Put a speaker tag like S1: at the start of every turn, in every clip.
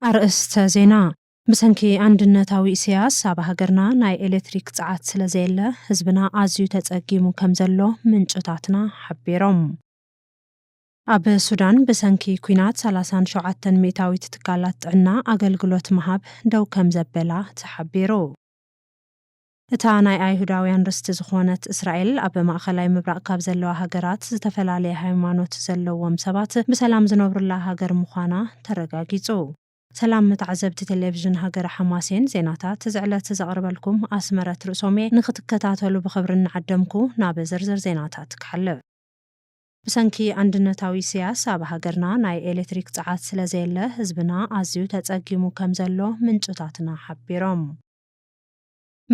S1: ኣርእስተ ዜና፣ ብሰንኪ ኣንድነታዊ ኢሰያስ ኣብ ሃገርና ናይ ኤሌትሪክ ጸዓት ስለዘየለ ህዝብና ኣዝዩ ተጸጊሙ ከምዘሎ ምንጭታትና ሓቢሮም። ኣብ ሱዳን ብሰንኪ ኲናት ሰላሳን ሸውዓተን ሚእታዊት ትካላት ጥዕና ኣገልግሎት ምሃብ ደው ከምዘበላ ተሓቢሩ። እታ ናይ ኣይሁዳውያን ርስቲ ዝኾነት እስራኤል ኣብ ማእኸላይ ምብራቕ ካብ ዘለዋ ሃገራት ዝተፈላለየ ሃይማኖት ዘለዎም ሰባት ብሰላም ዝነብሩላ ሃገር ምዃና ተረጋጊፁ። ሰላም ተዓዘብቲ ቴሌቭዥን ሃገረ ሓማሴን ዜናታት እዚ ዕለት ዘቕርበልኩም ኣስመረት ርእሶምየ ንኽትከታተሉ ብኽብሪ እናዓደምኩ ናብ ዝርዝር ዜናታት ክሓልፍ። ብሰንኪ ኣንድነታዊ ኢሰያስ ኣብ ሃገርና ናይ ኤሌትሪክ ጸዓት ስለዘየለ ህዝብና ኣዝዩ ተጸጊሙ ከምዘሎ ምንጭታትና ሓቢሮም።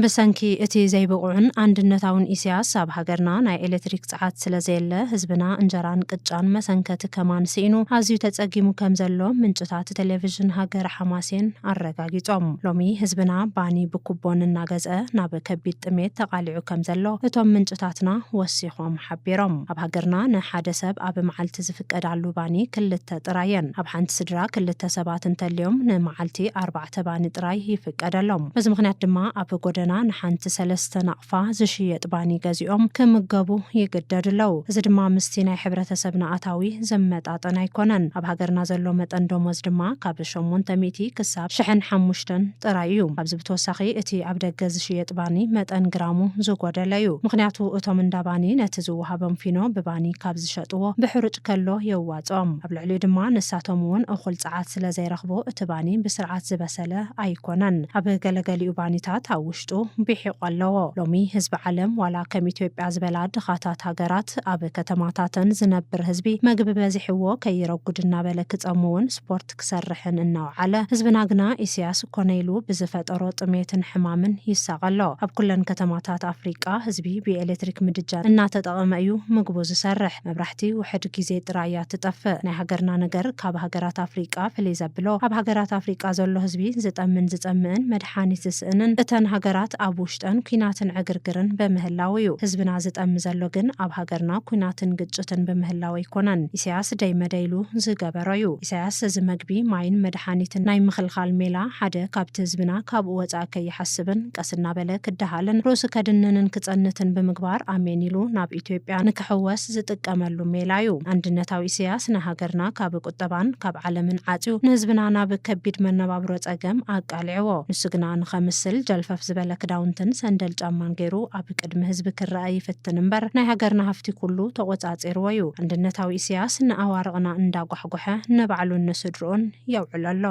S1: ብሰንኪ እቲ ዘይብቑዕን ኣንድነታውን ኢሰያስ ኣብ ሃገርና ናይ ኤሌትሪክ ጸዓት ስለዘየለ ህዝብና እንጀራን ቅጫን መሰንከቲ ከማን ስኢኑ ኣዝዩ ተጸጊሙ ከምዘሎ ምንጭታት ቴሌቭዥን ሃገረ ሓማሴን ኣረጋጊጾም። ሎሚ ህዝብና ባኒ ብኩቦን እናገዝአ ናብ ከቢድ ጥሜት ተቓሊዑ ከምዘሎ እቶም ምንጭታትና ወሲኾም ምጽሓፎም ሓቢሮም። ኣብ ሃገርና ንሓደ ሰብ ኣብ መዓልቲ ዝፍቀዳሉ ባኒ ክልተ ጥራይ እየን። ኣብ ሓንቲ ስድራ ክልተ ሰባት እንተልዮም ንመዓልቲ ኣርባዕተ ባኒ ጥራይ ይፍቀደሎም። በዚ ምኽንያት ድማ ኣብ ጎደና ንሓንቲ ሰለስተ ናቕፋ ዝሽየጥ ባኒ ገዚኦም ክምገቡ ይግደዱ ኣለው። እዚ ድማ ምስቲ ናይ ሕብረተሰብና ኣታዊ ዝመጣጠን ኣይኮነን። ኣብ ሃገርና ዘሎ መጠን ደሞዝ ድማ ካብ ሸሞንተ ሚእቲ ክሳብ ሽሕን ሓሙሽተን። ጥራይ እዩ። ካብዚ ብተወሳኺ እቲ ኣብ ደገ ዝሽየጥ ባኒ መጠን ግራሙ ዝጎደለ እዩ። ምኽንያቱ እቶም እንዳ ባኒ ነቲ ዝወሃቦም ፊኖ ብባኒ ካብ ዝሸጥዎ ብሕሩጭ ከሎ የዋጽኦም። ኣብ ልዕሊኡ ድማ ንሳቶም እውን እኹል ጸዓት ስለ ዘይረኽቡ እቲ ባኒ ብስርዓት ዝበሰለ ኣይኮነን። ኣብ ገለገሊኡ ባኒታት ኣብ ውሽጡ ቢሒቑ ኣለዎ። ሎሚ ህዝቢ ዓለም ዋላ ከም ኢትዮጵያ ዝበላ ድኻታት ሃገራት ኣብ ከተማታተን ዝነብር ህዝቢ መግቢ በዚሕዎ ከይረጉድ እናበለ ክጸሙ እውን ስፖርት ክሰርሕን እናውዓለ፣ ህዝብና ግና ኢሲያስ ኮነ ኢሉ ብዝፈጠሮ ጥሜትን ሕማምን ይሳቐ ኣሎ። ኣብ ኩለን ከተማታት ኣፍሪቃ ህዝቢ ብኤሌትሪክ ምድጃ እናተጠቐመ እዩ ምግቡ ዝሰርሕ። መብራሕቲ ውሕድ ጊዜ ጥራይ እያ ትጠፍእ። ናይ ሃገርና ነገር ካብ ሃገራት ኣፍሪቃ ፍልይ ዘብሎ ኣብ ሃገራት ኣፍሪቃ ዘሎ ህዝቢ ዝጠምን ዝጸምእን መድሓኒት ዝስእንን እተን ሃገራት ኣብ ውሽጠን ኩናትን ዕግርግርን በምህላው እዩ። ህዝብና ዝጠሚ ዘሎ ግን ኣብ ሃገርና ኩናትን ግጭትን ብምህላው ኣይኮነን። ኢሲያስ ደይ መደይ ኢሉ ዝገበሮ። ዝነበሮ እዩ። ኢሳያስ እዚ መግቢ፣ ማይን መድሓኒትን ናይ ምኽልኻል ሜላ ሓደ ካብቲ ህዝብና ካብኡ ወጻኢ ከይሓስብን ቀስ እናበለ ክደሃልን ርእሱ ከድንንን ክጸንትን ብምግባር ኣሜን ኢሉ ናብ ኢትዮጵያ ንክሕወስ ዝጥቀመሉ ሜላ እዩ። ኣንድነታዊ ኢሳያስ ንሃገርና ካብ ቁጠባን ካብ ዓለምን ዓጽዩ ንህዝብና ናብ ከቢድ መነባብሮ ጸገም ኣቃሊዕዎ። ንሱ ግና ንኸምስል ጀልፈፍ ዝበለ ክዳውንትን ሰንደል ጫማን ገይሩ ኣብ። ብቅድሚ ህዝቢ ክረኣ ይፍትን እምበር ናይ ሃገርና ሃፍቲ ኩሉ ተቆጻጺርዎ ዩ። ኣንድነታዊ ኢሰያስ ንኣዋርቕና እንዳ ጓሕጎሐ ነባዕሉን ንስድርኡን የውዕሎ ኣሎ።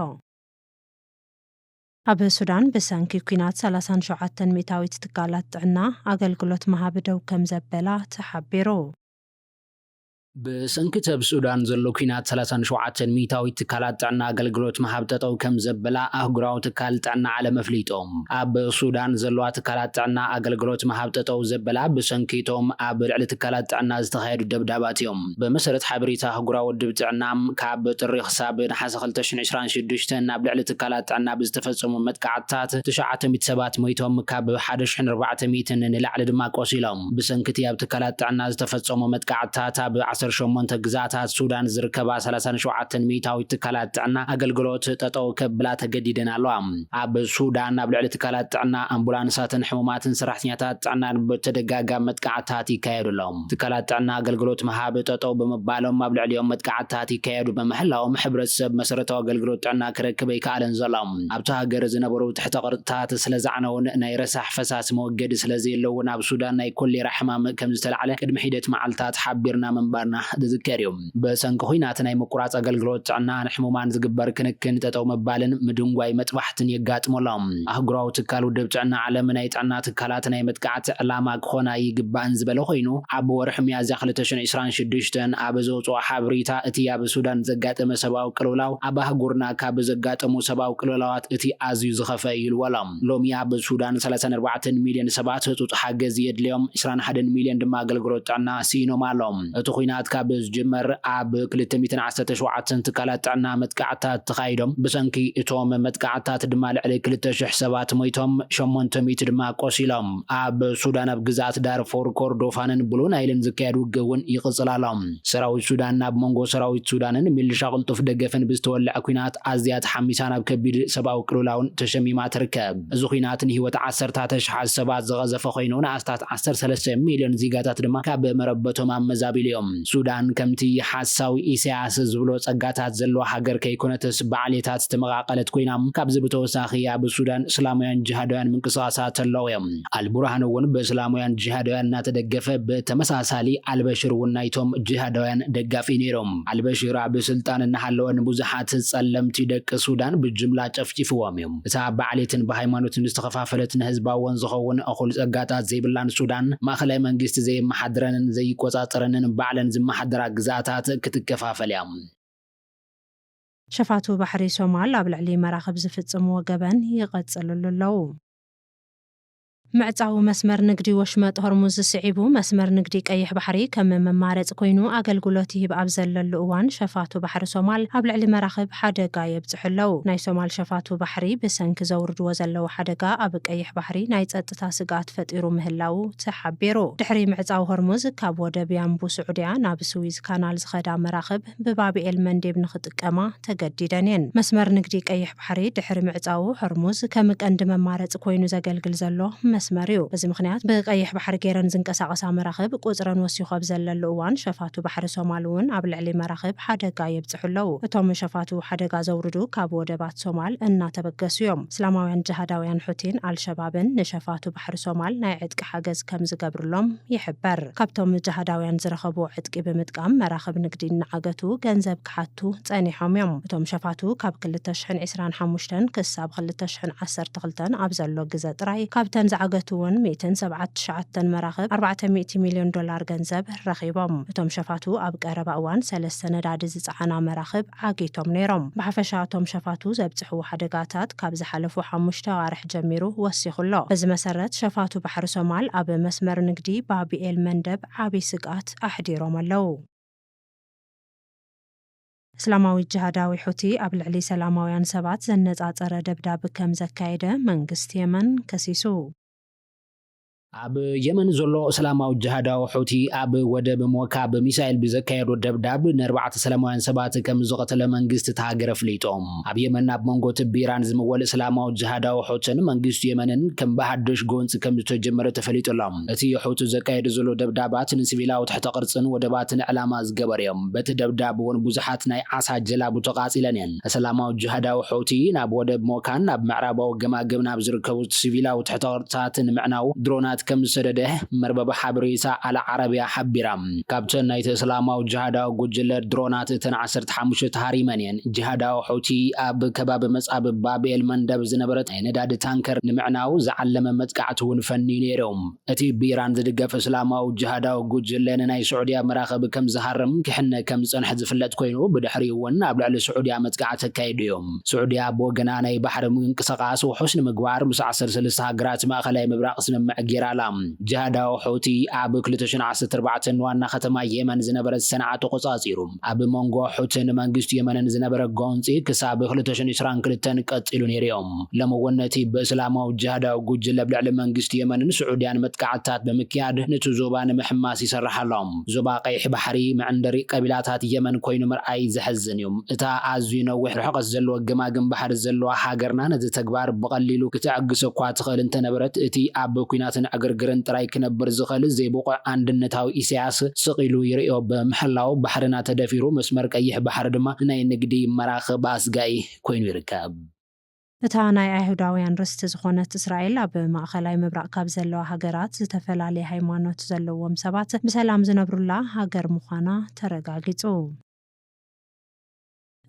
S1: ኣብ ሱዳን ብሰንኪ ኲናት ሰላሳን ሸውዓተን ሚእታዊት ትካላት ጥዕና ኣገልግሎት ምሃብ ደው ከምዘበላ ተሓቢሩ።
S2: ብሰንኪ እቲ ኣብ ሱዳን ዘሎ ኲናት ሰላሳን ሸውዓተን ሚኢታዊት ትካላት ጥዕና ኣገልግሎት ምሃብ ጠጠው ከምዘበላ ኣህጉራዊ ትካል ጥዕና ዓለም ኣፍሊጡ። ኣብ ሱዳን ዘለዋ ትካላት ጥዕና ኣገልግሎት ምሃብ ጠጠው ዘበላ ብሰንኪ እቶም ኣብ ልዕሊ ትካላት ጥዕና ዝተኻየዱ ደብዳባት እዮም። ብመሰረት ሓበሬታ ኣህጉራዊ ውድብ ጥዕና፣ ካብ ጥሪ ክሳብ ነሓሰ ክልተ ሽሕን ዕስራን ሽዱሽተን ኣብ ልዕሊ ትካላት ጥዕና ብዝተፈጸሙ መጥቃዕትታት ትሽዓተ ሚእቲ ሰባት ሞይቶም ካብ ሓደ ሽሕን ኣርባዕተ ሚእትን ንላዕሊ ድማ ቆሲሎም። ብሰንኪ እቲ ኣብ ትካላት ጥዕና ዝተፈጸሙ መጥቃዕትታት፣ ኣብ ዓሰርተ ሸሞንተ ግዝኣታት ሱዳን ዝርከባ ሰላሳን ሸውዓተን ሚእታዊት ትካላት ጥዕና ኣገልግሎት ጠጠው ከብላ ተገዲደን ኣለዋ። ኣብ ሱዳን ኣብ ልዕሊ ትካላት ጥዕና፣ ኣምቡላንሳትን ሕሙማትን ሰራሕተኛታት ጥዕናን ብተደጋጋሚ መጥቃዕትታት ይካየዱ ኣሎ። ትካላት ጥዕና ኣገልግሎት ምሃብ ጠጠው ብምባሎም ኣብ ልዕሊኦም መጥቃዕትታት ይካየዱ ብምህላዎም ሕብረተሰብ መሰረታዊ ኣገልግሎት ጥዕና ክረክብ ኣይከኣለን ዘሎ። ኣብታ ሃገር ዝነበሩ ትሕተ ቅርጽታት ስለ ዝዓነዉን ናይ ረሳሕ ፈሳሲ መወገዲ ስለ ዘየለዉን ኣብ ሱዳን ናይ ኮሌራ ሕማም ከም ዝተላዕለ ቅድሚ ሒደት መዓልታት ሓቢርና ምንባርና ዝዝከር እዩ። ብሰንኪ ኹናት ናይ ምቁራጽ ኣገልግሎት ጥዕና ንሕሙማን ዝግበር ክንክን ጠጠው ምባልን ምድንጓይ መጥባሕትን የጋጥሞ ኣሎ። ኣህጉራዊ ትካል ውድብ ጥዕና ዓለም ናይ ጥዕና ትካላት ናይ መጥቃዕቲ ዕላማ ክኾና ኣይግባእን ዝበለ ኮይኑ ኣብ ወርሒ ሚያዝያ ክልተ ሽሕ ዒስራን ሽዱሽተን ኣብ ዘውጽኦ ሓብሪታ እቲ ኣብ ሱዳን ዘጋጠመ ሰብኣዊ ሰብኣዊ ቅልውላው ኣብ ኣህጉርና ካብ ዘጋጠሙ ሰብኣዊ ቅልውላዋት እቲ ኣዝዩ ዝኸፍኣ እዩ ኢልዎ'ሎ። ሎሚ ኣብ ሱዳን ሰላሳን ኣርባዕተን ሚልዮን ሰባት ህጹጽ ሓገዝ የድልዮም፣ ዕስራን ሓደን ሚልዮን ድማ ኣገልግሎት ጥዕና ስኢኖም ኣሎው። እቲ ኹናት ካብ ዝጅመር ኣብ ክልተ ሚእትን ዓሰርተ ሸውዓተን ትካላት ጥዕና መጥቃዕትታት ተኻይዶም፣ ብሰንኪ እቶም መጥቃዕትታት ድማ ልዕሊ ክልተ ሽሕ ሰባት ሞይቶም፣ ሸሞንተ ሚእቲ ድማ ቆሲሎም። ኣብ ሱዳን ኣብ ግዝኣት ዳርፉር፣ ኮርዶፋንን ብሉ ናይልን ዝካየድ ውግእ'ውን ይቕጽል ኣሎ። ሰራዊት ሱዳን ኣብ መንጎ ሰራዊት ሱዳንን ሚልሻ ቅልጡፍ ደገፍን ብዝተወልዐ ኲናት ኣዝያ ተሓሚሳ ናብ ከቢድ ሰብኣዊ ቅልውላውን ተሸሚማ ትርከብ። እዚ ኲናት ንህይወት ዓሰርታት ኣሽሓት ሰባት ዝቐዘፈ ኮይኑ ንኣስታት ዓሰርተ ሰለስተ ሚልዮን ዚጋታት ድማ ካብ መረበቶም ኣመዛቢሉ'ዮም። ሱዳን ከምቲ ሓሳዊ ኢሳያስ ዝብሎ ጸጋታት ዘለዋ ሃገር ከይኮነትስ ብዓሌታት ዝተመቓቐለት ኮይና ካብዚ ብተወሳኺ ኣብ ሱዳን እስላማውያን ጅሃዳውያን ምንቅስቓሳት ኣለው'ዮም። ኣልቡርሃን እውን ብእስላማውያን ጂሃዳውያን እናተደገፈ ብተመሳሳሊ ኣልበሽር እውን ናይቶም ጂሃዳውያን ደጋፊ ነይሮም። ኣልበሽር ኣብ ስልጣን እናሃለወ ንብዙሓት ፀለምቲ ደቂ ሱዳን ብጅምላ ጨፍጪፍዎም እዩ። እታ ብዓሌትን ብሃይማኖትን ዝተኸፋፈለት ንህዝባዎን ዝኸውን እኹል ፀጋታት ዘይብላን ሱዳን ማእኸላይ መንግስቲ ዘየመሓድረንን ዘይቆፃፀረንን ባዕለን ዝመሓደራ ግዝኣታት ክትከፋፈል እያ።
S1: ሸፋቱ ባሕሪ ሶማል ኣብ ልዕሊ መራኽብ ዝፍፅምዎ ገበን ይቐፅልሉ ኣለው። ምዕጻው መስመር ንግዲ ወሽመጥ ሆርሙዝ ስዒቡ፣ መስመር ንግዲ ቀይሕ ባሕሪ ከም መማረጺ ኮይኑ ኣገልግሎት ይህብ ኣብ ዘለሉ እዋን፣ ሸፋቱ ባሕሪ ሶማል ኣብ ልዕሊ መራኽብ ሓደጋ የብጽሑ ኣለው። ናይ ሶማል ሸፋቱ ባሕሪ ብሰንኪ ዘውርድዎ ዘለው ሓደጋ ኣብ ቀይሕ ባሕሪ ናይ ጸጥታ ስግኣት ፈጢሩ ምህላዉ ተሓቢሩ። ድሕሪ ምዕጻው ሆርሙዝ፣ ካብ ወደብ ያንቡ ስዑድያ ናብ ስዊዝ ካናል ዝኸዳ መራኽብ፣ ብባብኤል መንዴብ ንኽጥቀማ ተገዲደን እየን። መስመር ንግዲ ቀይሕ ባሕሪ ድሕሪ ምዕጻዉ ሆርሙዝ ከም ቀንዲ መማረጺ ኮይኑ ዘገልግል ዘሎ መስመር እዩ። በዚ ምኽንያት ብቀይሕ ባሕሪ ገይረን ዝንቀሳቐሳ መራኽብ ቁጽረን ወሲኹ ኣብ ዘለሉ እዋን ሸፋቱ ባሕሪ ሶማል እውን ኣብ ልዕሊ መራኽብ ሓደጋ የብጽሑ ኣለዉ። እቶም ሸፋቱ ሓደጋ ዘውርዱ ካብ ወደባት ሶማል እናተበገሱ እዮም። እስላማውያን ጅሃዳውያን ሑቲን ኣልሸባብን ንሸፋቱ ባሕሪ ሶማል ናይ ዕጥቂ ሓገዝ ከምዝገብርሎም ይሕበር። ካብቶም ጅሃዳውያን ዝረኸብዎ ዕጥቂ ብምጥቃም መራኽብ ንግዲ እናዓገቱ ገንዘብ ክሓቱ ጸኒሖም እዮም። እቶም ሸፋቱ ካብ ክልተ ሽሕን ዕስራን ሓሙሽተን ክሳብ ክልተ ሽሕን ዓሰርተ ክልተን ኣብ ዘሎ ግዘ ጥራይ ካብተን ዝዓገትወን ሚእትን ሰብዓት ትሽዓተን መራኽብ ኣርባዕተ ሚእቲ ሚልዮን ዶላር ገንዘብ ረኺቦም። እቶም ሸፋቱ ኣብ ቀረባ እዋን ሰለስተ ነዳዲ ዝጸዓና መራኽብ ዓጊቶም ነይሮም። ብሓፈሻ እቶም ሸፋቱ ዘብጽሕዎ ሓደጋታት ካብ ዝሓለፉ ሓሙሽተ ኣዋርሕ ጀሚሩ ወሲኹ ኣሎ። በዚ መሰረት ሸፋቱ ባሕሪ ሶማል ኣብ መስመር ንግዲ ባብ ኤል መንደብ ዓቢ ስግኣት ኣሕዲሮም ኣለዉ። እስላማዊ ጅሃዳዊ ሑቲ ኣብ ልዕሊ ሰላማውያን ሰባት ዘነጻጸረ ደብዳብ ከም ዘካየደ መንግስቲ የመን ከሲሱ።
S2: ኣብ የመን ዘሎ እስላማዊ ጅሃዳዊ ሑቲ ኣብ ወደብ ሞካ ብሚሳይል ብዘካየዶ ደብዳብ ንኣርባዕተ ሰላማውያን ሰባት ከም ዝቐተለ መንግስቲ እታ ሃገር ኣፍሊጡ። ኣብ የመን ኣብ መንጎ እቲ ብኢራን ዝምወል እስላማዊ ጅሃዳዊ ሑትን መንግስቲ የመንን ከም ብሃዱሽ ጎንጺ ከም ዝተጀመረ ተፈሊጡ ኣሎ። እቲ ሑቲ ዘካየዶ ዘሎ ደብዳባት ንሲቪላዊ ትሕተ-ቅርጽን ወደባትን ዕላማ ዝገበሩ እዮም። በቲ ደብዳብ'ውን ብዙሓት ናይ ዓሳ ጀላቡ ተቓጺለን እየን። እስላማዊ ጂሃዳዊ ሖውቲ ናብ ወደብ ሞካን ኣብ ምዕራባዊ ገማግም ናብ ዝርከቡ ሲቪላዊ ትሕተ-ቅርጽታት ንምዕናው ድሮናት ከም ዝሰደደ መርበብ ሓበሬታ ኣል ዓረብያ ሓቢራ። ካብተን ናይቲ እስላማዊ ጂሃዳዊ ጉጅለ ድሮናት እተን ዓሰርተ ሓሙሽተ ተሃሪመን እየን። ጂሃዳዊ ሖውቲ ኣብ ከባቢ መጻብብ ባብ ኤል-መንደብ ዝነበረት ናይ ነዳዲ ታንከር ንምዕናው ዝዓለመ መጥቃዕቲ'ውን ፈንዩ ነይሩ። እቲ ብኢራን ዝድገፍ እስላማዊ ጅሃዳዊ ጉጅለ ንናይ ስዑድያ መራኽብ ከም ዝሃርም ክሕነ ከም ዝጸንሐ ዝፍለጥ ኮይኑ፣ ብድሕሪኡ'ውን ኣብ ልዕሊ ስዑድያ መጥቃዕቲ ኣካይዱ እዩ። ስዑድያ ብወገና ናይ ባሕሪ ምንቅስቓስ ውሑስ ንምግባር ምስ ዓሰርተ ሰለስተ ሃገራት ማእከላይ ምብራቕ ስምምዕ ገይራ ኣላ። ጅሃዳዊ ሑቲ ኣብ ክልተ ሽሕን ዓሰርተ ኣርባዕተን ንዋና ከተማ የመን ዝነበረት ሰንዓ ተቖጻጺሩ። ኣብ መንጎ ሑቲን መንግስቲ የመንን ዝነበረ ጎንጺ ክሳብ ክልተ ሽሕን ዕስራን ክልተን ቀጺሉ ነይሩ'ዩ። ሎሚ'ውን ነቲ ብእስላማዊ ጂሃዳዊ ጉጅለ ኣብ ልዕሊ መንግስቲ የመንን ስዑድያን መጥቃዕትታት ብምክያድ ኑቲ ዞባ ንምሕማስ ይሰርሕ ኣሎ። ዞባ ቀይሕ ባሕሪ መዕንደሪ ቀቢላታት የመን ኮይኑ ምርኣይ ዘሕዝን እዩ። እታ ኣዝዩ ነዊሕ ርሕቐት ዘለዎ ገማግም ባሕሪ ዘለዋ ሃገርና ነዚ ተግባር ብቐሊሉ ክትዕግሶ'ኳ ትኽእል እንተነበረት እቲ ኣብ ኲናትን ዕግርግርን ጥራይ ክነብር ዝኽእል ዘይብቑዕ ኣንድነታዊ ኢሳያስ ስቕ ኢሉ ይርእዮ ብምሕላዉ ባሕርና ተደፊሩ መስመር ቀይሕ ባሕሪ ድማ ናይ ንግዲ መራኽብ ኣስጋኢ ኮይኑ ይርከብ። እታ
S1: ናይ ኣይሁዳውያን ርስቲ ዝኾነት እስራኤል፣ ኣብ ማእኸላይ ምብራቕ ካብ ዘለዋ ሃገራት ዝተፈላለየ ሃይማኖት ዘለዎም ሰባት ብሰላም ዝነብሩላ ሃገር ምዃና ተረጋጊፁ።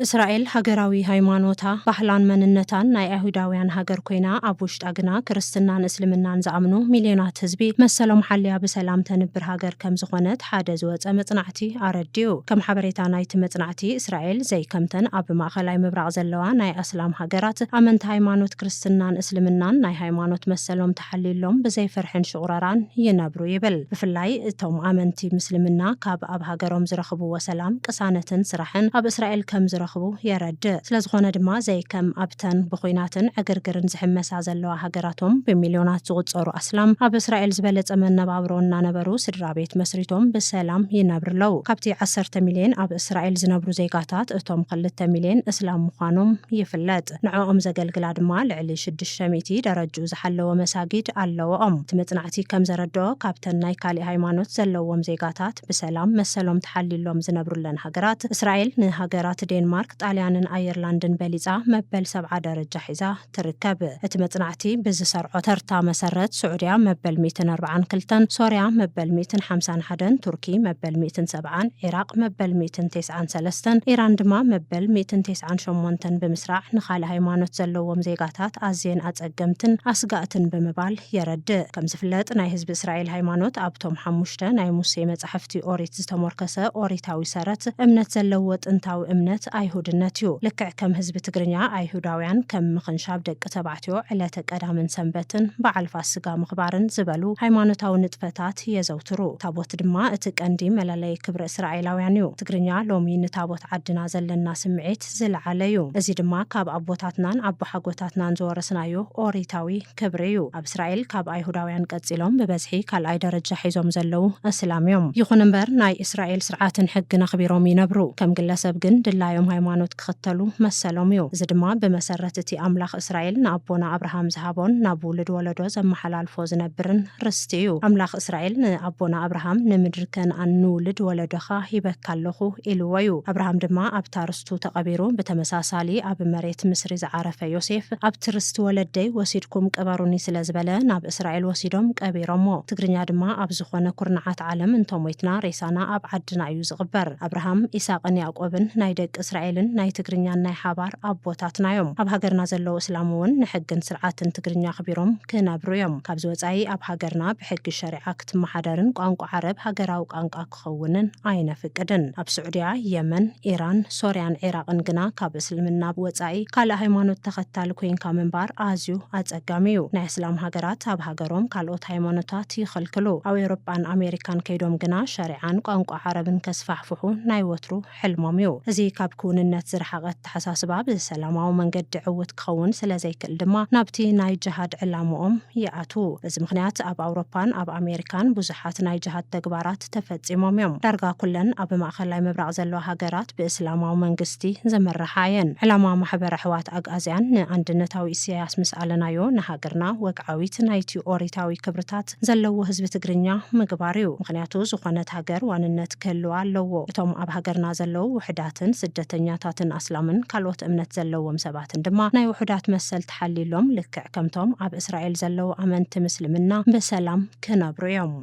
S1: እስራኤል ሃገራዊ ሃይማኖታ፣ ባህላን መንነታን ናይ ኣይሁዳውያን ሃገር ኮይና ኣብ ውሽጣ ግና ክርስትናን እስልምናን ዝኣምኑ ሚልዮናት ህዝቢ መሰሎም ሓልያ ብሰላም ተንብር ሃገር ከምዝኾነት ሓደ ዝወፀ መፅናዕቲ እቲ ኣረዲኡ። ከም ሓበሬታ ናይቲ መጽናዕቲ፣ እስራኤል ዘይከምተን ኣብ ማእከላይ ምብራቕ ዘለዋ ናይ ኣስላም ሃገራት፣ ኣመንቲ ሃይማኖት ክርስትናን እስልምናን ናይ ሃይማኖት መሰሎም ተሓልዩሎም ብዘይ ፍርሕን ሽቑረራን ይነብሩ ይብል። ብፍላይ እቶም ኣመንቲ ምስልምና ካብ ኣብ ሃገሮም ዝረኽብዎ ሰላም፣ ቅሳነትን ስራሕን ኣብ እስራኤል ከም ዝረኽቡ የረድእ። ስለዝኾነ ድማ ዘይከም ኣብተን ብዂናትን ዕግርግርን ዝሕመሳ ዘለዋ ሃገራቶም ብሚልዮናት ዝቑጸሩ ኣስላም ኣብ እስራኤል ዝበለጸ መነባብሮ እናነበሩ ስድራ ስድራቤት መስሪቶም ብሰላም ይነብር ኣለው። ካብቲ ዓሰርተ ሚልየን ኣብ እስራኤል ዝነብሩ ዜጋታት እቶም ክልተ ሚልየን እስላም ምዃኖም ይፍለጥ። ንዕኦም ዘገልግላ ድማ ልዕሊ ሽዱሽተ ሚእቲ ደረጅኡ ዝሓለወ መሳጊድ ኣለወኦም። እቲ መጽናዕቲ ከም ዘረድኦ ካብተን ናይ ካሊእ ሃይማኖት ዘለዎም ዜጋታት ብሰላም መሰሎም ተሓልዩሎም ዝነብሩለን ሃገራት እስራኤል ንሃገራት ዴንማርክ፣ ጣልያንን ኣየርላንድን በሊጻ መበል ሰብዓ ደረጃ ሒዛ ትርከብ። እቲ መጽናዕቲ ብዝሰርዖ ተርታ መሰረት፣ ስዑድያ መበል ሚእትን ኣርብዓን ክልተን፣ ሶርያ መበል ሚእትን ሓምሳን ሓደን፣ ቱርኪ መበል ሚእትን ሰብዓን፣ ዒራቕ መበል ሚእትን ቴስዓን ሰለስተን፣ ኢራን ድማ መበል ሚእትን ቴስዓን ሸሞንተን ብምስራዕ ንኻልእ ሃይማኖት ዘለዎም ዜጋታት ኣዝየን ኣጸገምትን ኣስጋእትን ብምባል የረድእ። ከምዝፍለጥ ናይ ህዝቢ እስራኤል ሃይማኖት ኣብቶም ሓሙሽተ ናይ ሙሴ መጻሕፍቲ ኦሪት ዝተሞርከሰ ኦሪታዊ ሰረት እምነት ዘለዎ ጥንታዊ እምነት ኣይሁድነት እዩ። ልክዕ ከም ህዝቢ ትግርኛ ኣይሁዳውያን ከም ምኽንሻብ ደቂ ተባዕትዮ ዕለተ ቀዳምን ሰንበትን በዓል ፋስጋ ምኽባርን ዝበሉ ሃይማኖታዊ ንጥፈታት የዘውትሩ። ታቦት ድማ እቲ ቀንዲ መለለዪ ክብሪ እስራኤላውያን እዩ። ትግርኛ ሎሚ ንታቦት ዓድና ዘለና ስምዒት ዝለዓለ እዩ። እዚ ድማ ካብ ኣቦታትናን ኣቦሓጎታትናን ዝወረስናዮ ኦሪታዊ ክብሪ እዩ። ኣብ እስራኤል ካብ ኣይሁዳውያን ቀጺሎም ብበዝሒ ካልኣይ ደረጃ ሒዞም ዘለዉ ኣስላም እዮም። ይኹን እምበር ናይ እስራኤል ስርዓትን ሕግን ኣኽቢሮም ይነብሩ። ከም ግለሰብ ግን ድላዮም ሃይማኖት ክኽተሉ መሰሎም እዩ። እዚ ድማ ብመሰረት እቲ ኣምላኽ እስራኤል ንኣቦና ኣብርሃም ዝሃቦን ናብ ውሉድ ወለዶ ዘመሓላልፎ ዝነብርን ርስቲ እዩ። ኣምላኽ እስራኤል ንኣቦና ኣብርሃም ንምድሪ ከንኣን ንውሉድ ወለዶኻ ሂበካ ኣለኹ ኢልዎ እዩ። ኣብርሃም ድማ ኣብታ መሬቱ ተቐቢሩ፣ ብተመሳሳሊ ኣብ መሬት ምስሪ ዝዓረፈ ዮሴፍ ኣብቲ ርስቲ ወለደይ ወሲድኩም ቅበሩኒ ስለ ዝበለ ናብ እስራኤል ወሲዶም ቀቢሮሞ። ትግርኛ ድማ ኣብ ዝኾነ ኩርናዓት ዓለም እንተሞይትና ሬሳና ኣብ ዓድና እዩ ዝቕበር። ኣብርሃም፣ ኢሳቕን ያእቆብን ናይ ደቂ እስራኤልን ናይ ትግርኛን ናይ ሓባር ኣቦታትና እዮም። ኣብ ሃገርና ዘለዉ እስላም እውን ንሕግን ስርዓትን ትግርኛ ኣኽቢሮም ክነብሩ እዮም። ካብዚ ወፃኢ ኣብ ሃገርና ብሕጊ ሸሪዓ ክትመሓደርን ቋንቋ ዓረብ ሃገራዊ ቋንቋ ክኸውንን ኣይነፍቅድን። ኣብ ስዑድያ፣ የመን፣ ኢራን፣ ሶርያን ዒራቕን ግና ካብ እስልምና ወጻኢ ካልእ ሃይማኖት ተኸታሊ ኮይንካ ምንባር ኣዝዩ ኣጸጋሚ እዩ። ናይ ኣስላም ሃገራት ኣብ ሃገሮም ካልኦት ሃይማኖታት ይኽልክሉ። ኣብ ኤውሮጳን ኣሜሪካን ከይዶም ግና ሸሪዓን ቋንቋ ዓረብን ከስፋሕፍሑ ናይ ወትሩ ሕልሞም እዩ። እዚ ካብ ክውንነት ዝረሓቐ ኣተሓሳስባ ብሰላማዊ መንገዲ ዕውት ክኸውን ስለዘይክእል ድማ ናብቲ ናይ ጀሃድ ዕላምኦም ይኣትዉ። በዚ ምኽንያት ኣብ ኣውሮፓን ኣብ ኣሜሪካን ብዙሓት ናይ ጀሃድ ተግባራት ተፈጺሞም እዮም። ዳርጋ ኩለን ኣብ ማእኸላይ ምብራቕ ዘለዋ ሃገራት ብእስላማዊ መንግስቲ ዝምርሓ እየን። ዕላማ ማሕበር ኣሕዋት ኣግኣዝያን ንኣንድነታዊ ኢሰያስ ምስ ኣለናዮ ንሃገርና ወግዓዊት ናይቲ ኦሪታዊ ክብርታት፣ ዘለዎ ህዝቢ ትግርኛ ምግባር እዩ። ምኽንያቱ ዝኾነት ሃገር ዋንነት ክህልዋ ኣለዎ። እቶም ኣብ ሃገርና ዘለዉ ውሕዳትን ስደተኛታትን ኣስላምን ካልኦት እምነት ዘለዎም ሰባትን ድማ ናይ ውሑዳት መሰል ተሓልዩሎም ልክዕ ከምቶም ኣብ እስራኤል ዘለዉ ኣመንቲ ምስልምና ብሰላም ክነብሩ እዮም።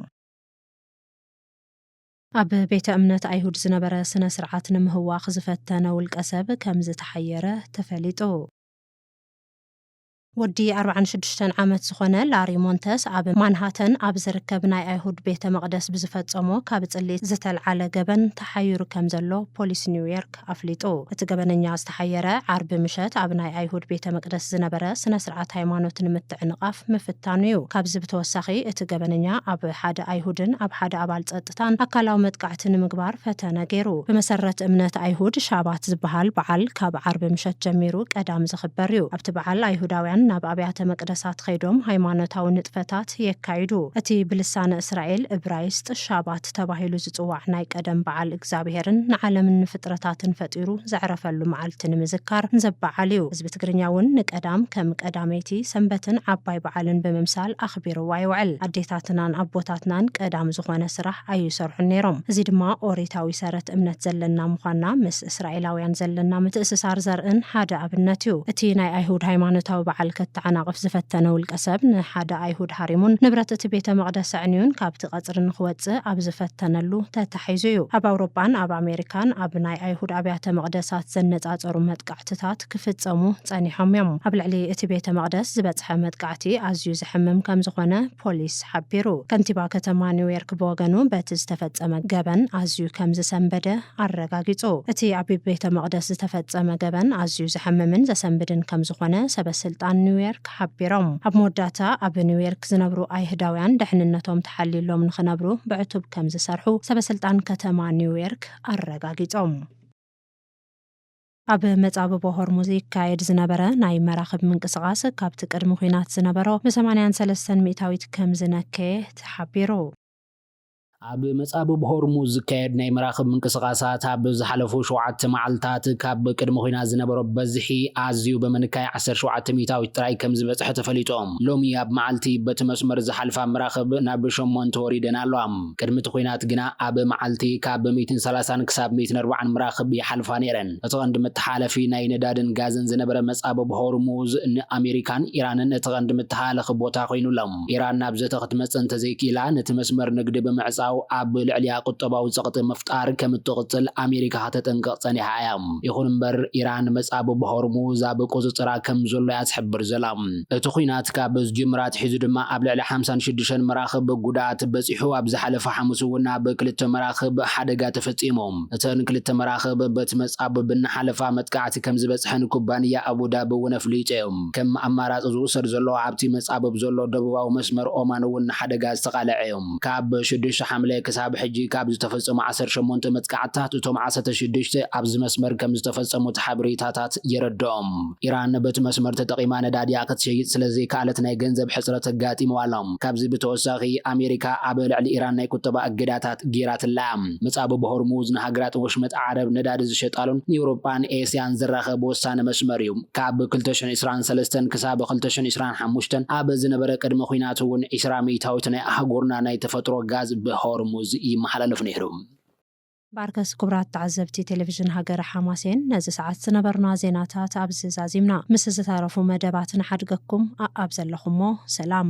S1: ኣብ ቤተ እምነት ኣይሁድ ዝነበረ ስነ ስርዓት ንምህዋኽ ዝፈተነ ውልቀ ሰብ ከምዝተሓየረ ተፈሊጡ። ወዲ ኣርብዓን ሽዱሽተን ዓመት ዝኾነ ላሪ ሞንተስ ኣብ ማንሃተን ኣብ ዝርከብ ናይ ኣይሁድ ቤተ መቕደስ ብዝፈጸሞ ካብ ጽልኢ ዝተልዓለ ገበን ተሓይሩ ከም ዘሎ ፖሊስ ኒውዮርክ ኣፍሊጡ። እቲ ገበነኛ ዝተሓየረ፣ ዓርቢ ምሸት ኣብ ናይ ኣይሁድ ቤተ መቅደስ ዝነበረ ስነ ስርዓት ሃይማኖት ንምትዕንቓፍ ምፍታኑ'ዩ። ካብዚ ብተወሳኺ እቲ ገበነኛ ኣብ ሓደ ኣይሁድን ኣብ ሓደ ኣባል ጸጥታን መጠንቀቕታን ኣካላዊ መጥቃዕቲ ንምግባር ፈተነ ገይሩ። ብመሰረት እምነት ኣይሁድ፣ ሻባት ዝበሃል በዓል ካብ ዓርቢ ምሸት ጀሚሩ ቀዳም ዝኽበር እዩ። ኣብቲ በዓል ኣይሁዳውያን ናብ ኣብያተ መቅደሳት ኸይዶም ሃይማኖታዊ ንጥፈታት የካይዱ። እቲ ብልሳነ እስራኤል፣ እብራይስጥ፣ ሻባት ተባሂሉ ዝጽዋዕ ናይ ቀደም በዓል፣ እግዚኣብሄርን ንዓለምን ንፍጥረታትን ፈጢሩ ዘዕረፈሉ መዓልቲ ንምዝካር ዘበዓል እዩ። ህዝቢ ትግርኛ እውን ንቀዳም ከም ቀዳመይቲ ሰንበትን ዓባይ በዓልን ብምምሳል ኣኽቢርዋ ይውዕል። ኣዴታትናን ኣቦታትናን ቀዳም ዝኾነ ስራሕ ኣይሰርሑን ነይሮም። እዚ ድማ ኦሪታዊ ሰረት እምነት ዘለና ምዃንና ምስ እስራኤላውያን ዘለና ምትእስሳር ዘርእን ሓደ ኣብነት እዩ። እቲ ናይ ኣይሁድ ሃይማኖታዊ በዓል ከተዓናቕፍ ዝፈተነ ውልቀ ሰብ ንሓደ ኣይሁድ ሃሪሙን ንብረት እቲ ቤተ መቕደስ ኣዕንዩን ካብቲ ቀጽሪ ንኽወጽእ ኣብ ዝፈተነሉ ተታሒዙ እዩ። ኣብ ኣውሮጳን ኣብ ኣሜሪካን ኣብ ናይ ኣይሁድ ኣብያተ መቕደሳት ዘነጻጸሩ መጥቃዕትታት መጥቃዕትታት ክፍጸሙ ጸኒሖም እዮም። ኣብ ልዕሊ እቲ ቤተ መቕደስ ዝበጽሐ መጥቃዕቲ ኣዝዩ ዘሕምም ከም ዝዀነ ፖሊስ ሓቢሩ። ከንቲባ ከተማ ኒውዮርክ ብወገኑ በቲ ዝተፈጸመ ገበን ኣዝዩ ከም ዝሰንበደ ኣረጋጊጹ። እቲ ኣብ ቤተ መቕደስ ዝተፈጸመ ገበን ኣዝዩ ዘሕምምን ዘሰንብድን ከም ዝዀነ ሰበ ስልጣን ኒውዮርክ ሓቢሮም። ኣብ መወዳእታ ኣብ ኒውዮርክ ዝነብሩ ኣይሁዳውያን ድሕንነቶም ተሓልዩሎም ንኽነብሩ ብዕቱብ ከም ዝሰርሑ ሰበ ስልጣን ከተማ ኒውዮርክ ኣረጋጊጾም። ኣብ መጻብቦ ሆርሙዝ ይካየድ ዝነበረ ናይ መራኽብ ምንቅስቓስ ካብቲ ቅድሚ ኲናት ዝነበሮ ብሰማንያን ሰለስተን ሚእታዊት ከምዝነከየ ተሓቢሩ።
S2: ኣብ መጻብብ ሆርሙዝ ዝካየድ ናይ መራኽብ ምንቅስቓሳት ኣብ ዝሓለፉ ሸውዓተ መዓልታት ካብ ቅድሚ ኲናት ዝነበሮ በዝሒ ኣዝዩ ብምንካይ ዓሰርተ ሸውዓተ ሚእታዊት ጥራይ ከምዝበጽሐ ተፈሊጡ። ሎሚ ኣብ መዓልቲ በቲ መስመር ዝሓልፋ መራኽብ ናብ ሸሞንተ ወሪደን ኣለዋ። ቅድሚ እቲ ኹናት ግና ኣብ መዓልቲ ካብ ሚእትን ሰላሳን ክሳብ ሚእትን ኣርባዓን መራኽብ ይሓልፋ ነይረን። እቲ ቀንዲ መተሓላለፊ ናይ ነዳድን ጋዝን ዝነበረ መጻብብ ሆርሙዝ ንኣሜሪካን ኢራንን እቲ ቀንዲ መተሃላለኺ ቦታ ኮይኑ ኣሎ። ኢራን ናብ ዘተ ክትመጽእ እንተዘይክኢላ ነቲ መስመር ንግዲ ብምዕጻው ኣብ ልዕሊኣ ቁጠባዊ ጸቕጢ ምፍጣር ከም እትቕጽል ኣሜሪካ ከተጠንቅቕ ጸኒሓ እያ። ይኹን እምበር ኢራን መጻብብ ሆርሙዝ ኣብ ቁጽጽራ ከም ዘሎ እያ ትሕብር ዘላ። እቲ ኲናት ካብ ዝጅምር ኣትሒዙ ድማ ኣብ ልዕሊ ሓምሳን ሽዱሽተን መራኽብ ጉድኣት በጺሑ፣ ኣብ ዝሓለፈ ሓሙስ እውን ኣብ ክልተ መራኽብ ሓደጋ ተፈጺሙ። እተን ክልተ መራኽብ በቲ መጻብብ እናሓለፋ መጥቃዕቲ ከም ዝበጽሐን ኩባንያ ኣቡ ዳቢ እውን ኣፍሊጡ። ከም ኣማራጺ ዝውሰድ ዘሎ ኣብቲ መጻብብ ዘሎ ደቡባዊ መስመር ኦማን እውን ንሓደጋ ዝተቓልዐ እዩ። ካብ ሽዱሽተ ሓምለ ክሳብ ሕጂ ካብ ዝተፈጸሙ ዓሰርተ ሸሞንተ መጥቃዕትታት እቶም ዓሰርተ ሽዱሽተ ኣብዚ መስመር ከም ዝተፈጸሙ እቲ ሓበሬታታት የረድኦም። ኢራን በቲ መስመር ተጠቒማ ነዳዲኣ ክትሸይጥ ስለ ዘይከኣለት ናይ ገንዘብ ሕጽረት ኣጋጢምዋ ኣሎ። ካብዚ ብተወሳኺ ኣሜሪካ ኣብ ልዕሊ ኢራን ናይ ቁጠባ እገዳታት ገይራትላ እያ። ምጻብብ ሆርሙዝ ንሃገራት ወሽመጥ ዓረብ ነዳዲ ዝሸጣሉን ንኤውሮጳን ኤስያን ዘራኽብ ወሳኒ መስመር እዩ። ካብ ክልተ ሽሕ ዕስራን ሰለስተን ክሳብ ክልተ ሽሕ ዕስራን ሓሙሽተን ኣብ ዝነበረ ቅድመ ኲናት እውን ዕስራ ሚእታዊት ናይ ኣህጉርና ናይ ተፈጥሮ ጋዝ ብሆርሙዝ ይመሓላለፍ ነይሩ። ባርከስ
S1: ክቡራት ተዓዘብቲ ቴሌቪዥን ሃገረ ሓማሴን ነዚ ሰዓት ዝነበሩና ዜናታት ኣብዚ ዛዚምና ምስ ዝተረፉ መደባት ንሓድገኩም ኣኣብ ዘለኹሞ ሰላም።